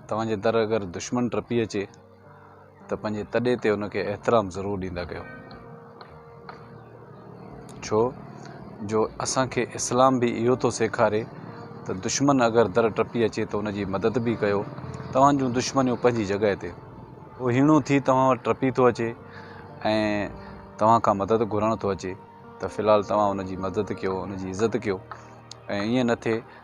توهان جي در اگر دشمن ٽپي اچي ته پنهنجي تڏي تي ان کي احترام ضرور ڏيندا ڪيو. ڇو جو اسان کي اسلام به اهو ٿو سيکاري ته دشمن اگر در ٽپي اچي ته ان جي مدد به ڪيو. توهان جون دشمنيون پنهنجي جڳهه تي. ڪو هيڻو ٿي توهان وٽ ٽپي ٿو اچي ۽ توهان کان مدد گهرڻ ٿو اچي ته في الحال توهان ان جي مدد ڪيو، ان جي عزت ڪيو ۽ ائين نه ٿئي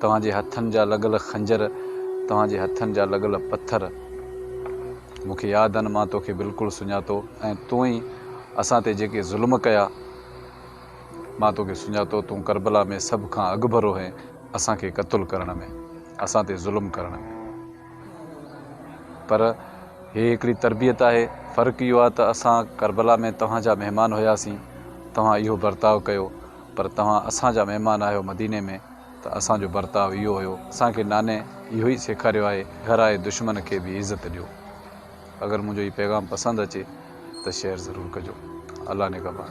توهان جي هٿن جا لڳل خنجر، توهان جي هٿن جا لڳل پٿر مون کي ياد آهن، مان توکي بلڪل سڃاتو ۽ توئين اسان تي جيڪي ظلم ڪيا، مان توکي سڃاتو، تون ڪربلا ۾ سڀ کان اڳڀرو هئين اسان کي قتل ڪرڻ ۾، اسان تي ظلم ڪرڻ ۾. پر هي هڪڙي تربيت آهي، فرق اهو آهي ته اسان ڪربلا ۾ توهان جا مهمان هياسين، توهان اهو برتاء ڪيو. پر توهان اسان جا مهمان آهيو مديني ۾ ته اسان جو برتاء اهو هيو. اسان کي ناني اهو ئي سيکاريو آهي گهر آئي دشمن کي به عزت ڏيو. اگر منهنجو هي پيغام پسند اچي ته شيئر ضرور ڪجو. الله نگهبان.